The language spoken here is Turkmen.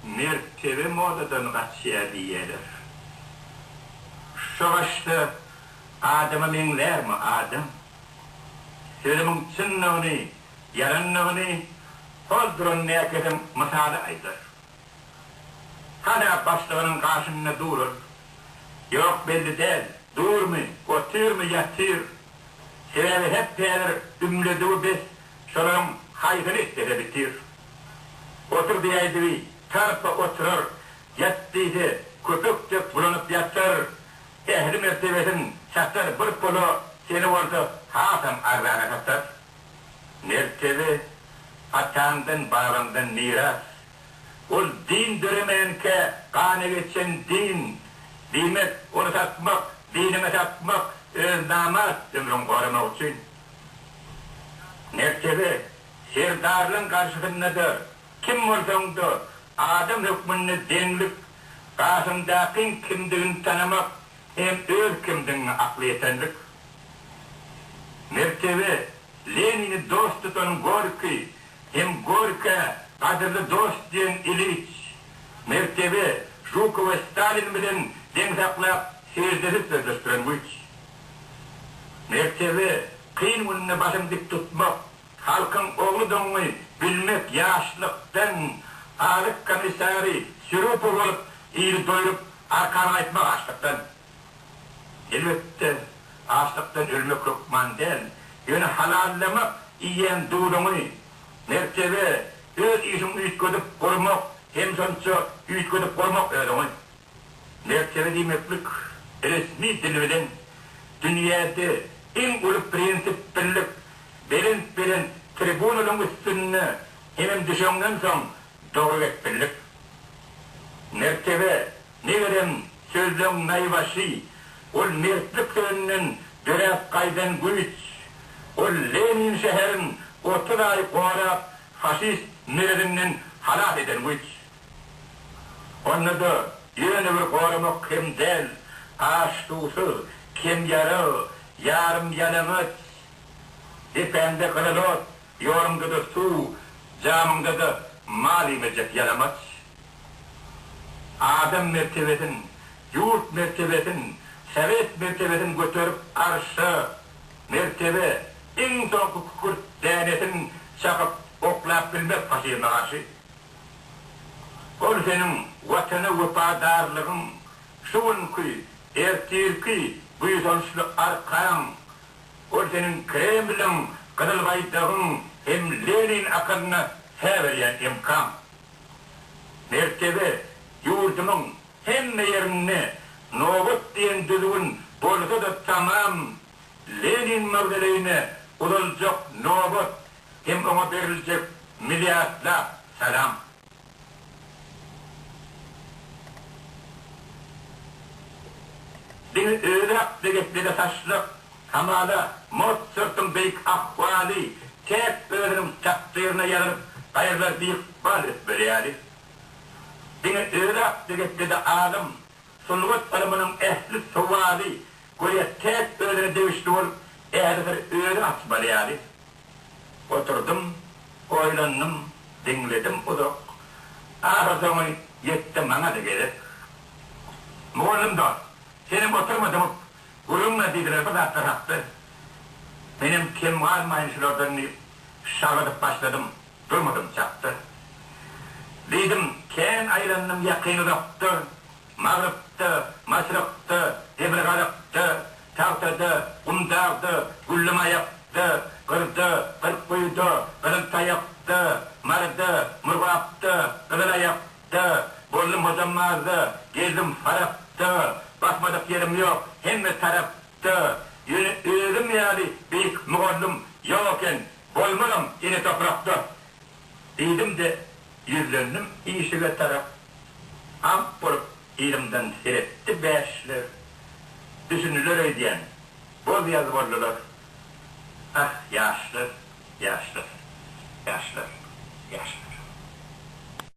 Mertebe modadan gaçýar diýýärler. Şo başda adama meňzärmi adam? Sözümiň çyndygyny, ýalandygyny hol duran näkezem mysaly aýdar. Hana başlygynyň gaşynda durun. Ýok, belli däl. Durmy, otyrmy, ýatyr. Sebäbi hepdädir ümledigi bes şolaryň haýsyny islese bitir. Otur diýäýdigi tarpa oturar, ýat diýse köpek dek bulanyp ýatar. Ähli mertebesini satar bir pula, seni bolsa hasam arzana satar. Mertebe, ataňdan, babaňdan miras. Ol din döremänkä, gana geçen din. Diýmek, ony satmak, diniňi satmak, öz namart ömrüňi goramak üçin. Mertebe, serdarlaň garşysynda-da, kim bolsaň-da, adam hökmünde deňlik, gaşyňdakyň kimdigini tanamak, Sen öz kimdigiňe akly ýetenlik, mertebe, Lenini dost tutan Gorkiý hem Gorkä gadyrly dost diýen Iliç, mertebe, Žukowy Stalin bilen deň saklap seždesiz sözleşdiren güýç, mertebe, kyn günde başyňy dik tutmak, halkyň ogludygyňy bilmek, ýaşlykdan Alyk komissary Sürupow bolup ili doýrup Arkany aýtmak açlykdan, elbetde, açlykdan ölmek hökman däl, ýöne halallamak, iýen duzuňy, mertebe, öz işiňi üýtgedip gurmak, hem şonça üýtgedip gurmak özüňi. Mertebe diýmeklik, resmi dil bilen, dünýäde iň uly prinsip birlik, belent-belent tribunalaryň üstünde hemem düşeňden soň dowamekdelik Mertebe, megerem, sözleň naýbaşy, ol mertlik sözünden döräp gaýdan güýç. Ol Lenin şäherin otuz aý gorap, faşist merezinden halas eden güýç. Onda-da ýöne bir goramak hem däl, aç-suwsuz, kemýarag, ýarym-ýalaňaç, depäňde gyzyl ot. Ýoluňda-da suw, jamyňda-da mal iýmejek ýalamaç adam mertebesin, ýurt mertebesin, sowet mertebesin göterip arşa, mertebe, iň soňky kükürt dänesin çakyp oklap bilmek faşizme garşy. Ol seniň Watana wepadarlygyň, şu günki, ertirki buýsançly arkaň. Ol seniň Kremliň, Gyzyl Baýdagyň hem Lenin akylyna hä berýän emkaň. Mertebe, ýurdumyň hemme ýerinde nobat diýen düzgün bolsa-da tamam Lenin mawzoleýine uzaljak nobat hem oňa beriljek milliardlap salam. Diňe özi hakda geplege saçlyk, hamala, Mozartyň beýik ahwaly täk özüniň takdyryna ýazylyp, gaýralar ykbal ötmeli ýaly. Diňe özi hakda geplede alym, Sungat ylmynyň ähli sowaly göýä täk özüne degişli bolup, ählibir özi açmaly ýaly. Oturdym, oýlandym, diňledim uzak. Ahyrsoňy ýetdi maňa-da gezek. Mugallym dost, senem oturma dymyp, gürrüňle diýdiler bir zatlar hakda. Menem kem galmaýyn şulardan diýip, şagydyp başladym. Durmudym çakdyr. Diýdim, kän aýlandym ýakyn-uzakda, Magrypda, Maşrykda, Demirgazakda, Tagtada, Gumdagda, Güllümaýakda, Gyrda, Gyrkguýuda, Gyzyltaýakda, Maryda, Murgapda, Gyzylaýakda, boldum Hojambazda, gezdim Farapda, basmadyk ýerim ýok hemme tarapda, ýöne özüm ýaly beýik mugallym ýok eken Bolmanam ene toprakda. Diýdim-de, ýüzlendim işige tarap. Aňk bolup yzymdan seretdi bäşler. Düşündiler öýdýän, boz-ýaz boldular. Ah, ýaşlar, ýaşlar, ýaşlar, ýaşlar.